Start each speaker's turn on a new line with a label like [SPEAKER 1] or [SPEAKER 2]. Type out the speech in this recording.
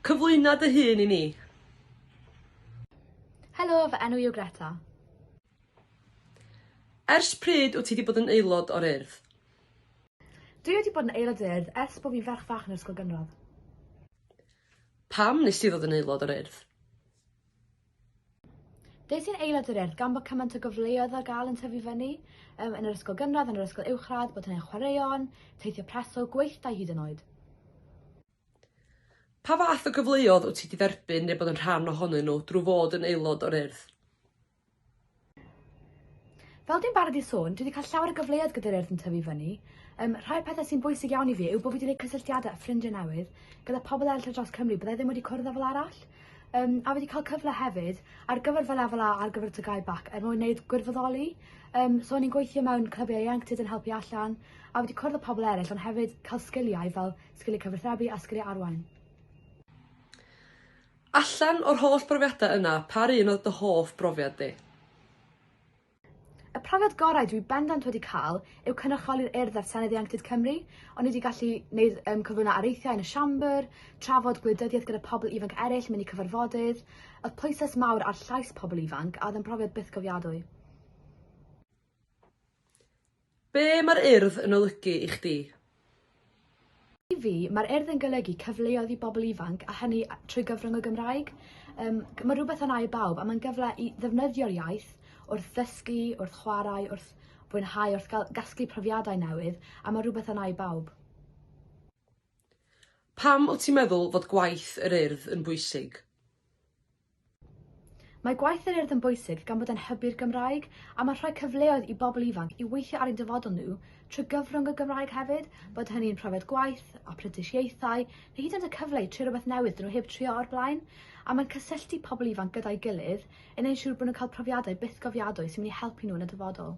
[SPEAKER 1] Cyflwyno dy hun i ni.
[SPEAKER 2] Helo, fy enw i yw Greta.
[SPEAKER 1] Ers pryd wyt ti wedi bod yn aelod o'r Urdd?
[SPEAKER 2] Dwi wedi bod yn aelod o'r Urdd ers bod fi'n ferch fach yn yr ysgol gynradd. Pam
[SPEAKER 1] nes ti ddod yn aelod o'r Urdd?
[SPEAKER 2] Des i'n aelod yr Urdd gan bod cymaint o gyfleoedd ar gael yn tyfu fyny, um, yn yr ysgol gynradd, yn yr ysgol uwchradd, bod hynny'n chwaraeon, teithio preswyl, gweithdai hyd yn oed.
[SPEAKER 1] Pa fath o gyfleoedd wyt ti wedi dderbyn neu bod yn rhan ohonyn nhw drwy fod yn aelod o'r Urdd?
[SPEAKER 2] Fel dwi'n barod i sôn, dwi wedi cael llawer o gyfleoedd gyda'r urdd yn tyfu fyny. Um, rhai o'r pethau sy'n bwysig iawn i fi yw bod fi wedi gwneud cysylltiadau a ffrindiau newydd gyda pobl eraill ar draws Cymru byddai ddim wedi cwrdd â fel arall. Um, a wedi cael cyfle hefyd ar gyfer fy lefel A ar gyfer y tygau bac er mwyn gwneud gwirfoddoli. Um, so o'n i'n gweithio mewn clybiau ieuenctid yn helpu allan a wedi cwrdd â pobl eraill ond hefyd cael sgiliau fel sgiliau cyfathrebu a sgiliau arwain.
[SPEAKER 1] Allan o'r holl brofiadau yna, pa un oedd dy hoff brofiad di?
[SPEAKER 2] Y profiad gorau dwi bendant wedi cael yw cynrychioli'r Urdd ar Senedd Ieuenctid Cymru. O'n i wedi gallu neud um, cyflwyno areithiau yn y siambr, trafod gwleidyddiaeth gyda pobl ifanc eraill, mynd i cyfarfodydd. Oedd pwyslais mawr ar llais pobl ifanc a oedd yn profiad bythgofiadwy.
[SPEAKER 1] Be mae'r Urdd yn olygu i chdi?
[SPEAKER 2] I fi, mae'r Urdd yn golygu cyfleoedd i bobl ifanc a hynny trwy gyfrwng y Gymraeg. Yym, mae rhywbeth yna i bawb a mae'n gyfle i ddefnyddio'r iaith wrth ddysgu, wrth chwarae, wrth fwynhau, wrth gael gasglu profiadau newydd a mae rhywbeth yna i bawb.
[SPEAKER 1] Pam wyt ti'n meddwl fod gwaith yr Urdd yn bwysig?
[SPEAKER 2] Mae gwaith yr Urdd yn bwysig gan bod e'n hybu'r Gymraeg a mae'n rhoi cyfleoedd i bobl ifanc i weithio ar eu dyfodol nhw trwy gyfrwng y Gymraeg hefyd, bod hynny'n profiad gwaith, aprentisiaethau, neu hyd yn oed y cyfle i trio rhywbeth newydd dyn nhw heb trio o'r blaen. A mae'n cysylltu pobl ifanc gyda'i gilydd, yn ein siŵr bod nhw'n cael profiadau bythgofiadwy sy'n mynd i helpu nhw yn y dyfodol.